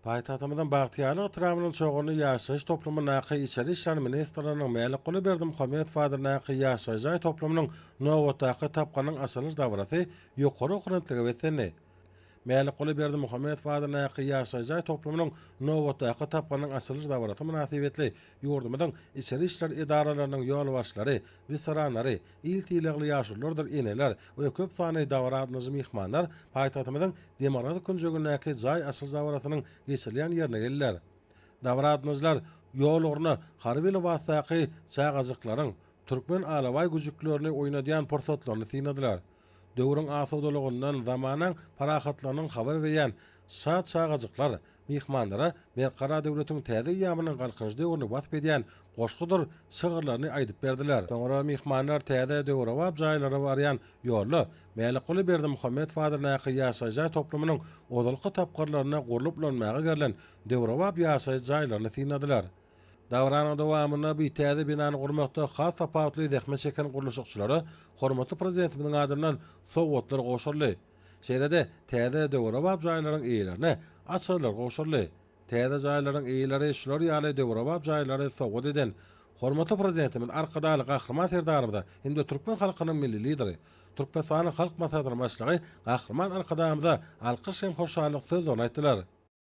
Paýtagtymyzyň Bagtyýarlyk etrabynyň Çoganly ýaşaýyş toplumyndaky Içeri işler ministriniň Mälikguly Berdimuhamedow adyndaky ýaşaýyş jaý toplumynyň nobatdaky tapgynyň açylyş dabarasy ýokary okrentlige beslendi. Mälikguly Berdimuhamedow adyndaky ýaşaýyş jaý toplumynyň nobatdaky tapgynyň açylyş dabarasy mynasybetli Ýurdumyzyň içeri işler edaralarynyň ýolbaşçylary, weteranlary, il sylagly ýaşululardyr eneler we köp sanly dabara gatnaşyjy myhmanlar paýtagtymyzyň demirgazyk künjegindäki jaý açylyş dabarasynyň geçirilýän ýerine geldiler. Dabara gatnaşyjylar ýol ugruna harby lybasdaky çagajyklaryň türkmen alabaý güjüklerini oýnadýan pursatlaryny synladylar. Döwrüň asudalygyndan, zamanaň parahatlygynyň habar berýän Şa çagajyklar myhmanlara Berk Gara döwletiň täze eýýamynyň Galkynyş döwrüni wasp edýän goşgudyr şygyrlaryny aýdyp berdiler. Soňra myhmanlar täze döwrebap jaýlara barýan ýolda Mälikguly Berdimuhamedow adyndaky ýaşaýyş jaý toplumynyň ozalky tapgyrlarynda gurlup ulanmaga berlen döwrebap ýaşaýyş jaýlaryny synladylar. Dabaranyň dowamynda bu täze binany gurmakda has tapawutly zähmet çeken gurluşykçylara hormatly Prezidentimiziň adyndan sowgatlar gowşuryldy. Şeýle-de täze döwrebap jaýlaryň eýelerine açarlar gowşuryldy. Täze jaýlaryň eýeleri şular ýaly döwrebap jaýlary sowgat eden hormatly Prezidentimiz Arkadagly Gahryman Serdarymyza hem-de türkmen halkynyň Milli Lideri, Türkmenistanyň Halk Maslahatynyň Başlygy Gahryman Arkadagymyza alkyş hem hoşallyk sözlerini aýtdylar.